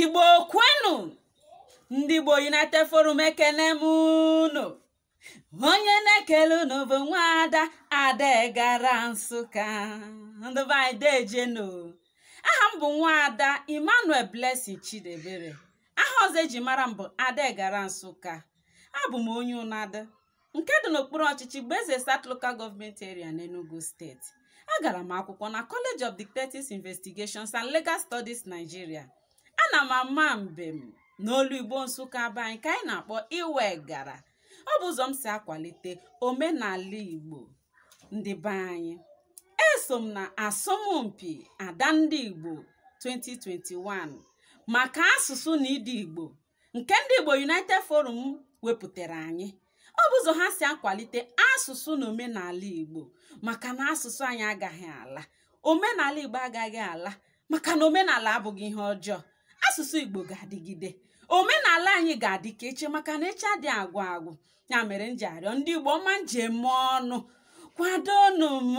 igbo kwenu ndị igbo united forum ekene m unu onye na-ekele unu bụ nwaada ada egara nsụka ndị be anyị dejenu aha m bụ nwaada emmanuel blessing chidiebere aha ọzọ eji mara m bụ ada egara nsụka abụ m onye Unadu nke dị n'okpuru ọchịchị Igbo-Eze South Local Government Area n'Enugu steeti agara m akwụkwọ na College of Detectives Investigations and Legal Studies Nigeria ana m ama mbem n'olu igbo nsụka be anyị ka anyị na-akpọ iwe egara ọ bụ ụzọ m si akwalite omenala igbo ndị be anyị eso m na asọmpi ada ndị igbo 2021 maka asụsụ na ịdị igbo nke ndị Igbo United Forum wepụtara anyị ọ bụ ụzọ ha si akwalite asụsụ na omenala Igbo maka na asụsụ anyị agaghị ala omenala Igbo agaghị ala maka na omenala abụghị ihe ọjọọ asụsụ Igbo ga-adịgide omenala anyị ga-adị ka echi maka na echi adị agwụ agwụ ya mere m ji arịọ ndị igbo ọma m ji eme ọnụ kwadonụ m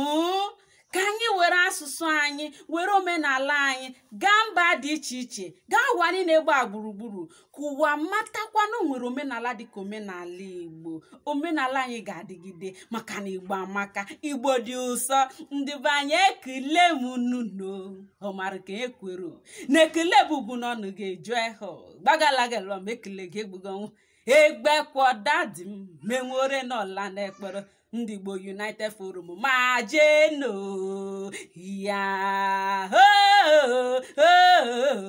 ka anyị were asụsụ anyị were omenala anyị gaa mba dị iche iche gaa ụwa niile gbaa gburugburu ka ụwa matakwa na o nwere omenala dịka omenala igbo omenala anyị ga-adịgide maka na igbo amaka igbo dị ụsọ ndị be anyị ekele m unu ọmara ka ekwero na ekele bụbu n'ọnụ ga-eju ehụ gbagalagalọm ekele gị egbugonwụ egbe kwọdadi m menwore n'ọla n'ekpere ndị Igbo United Forum ma jeno ya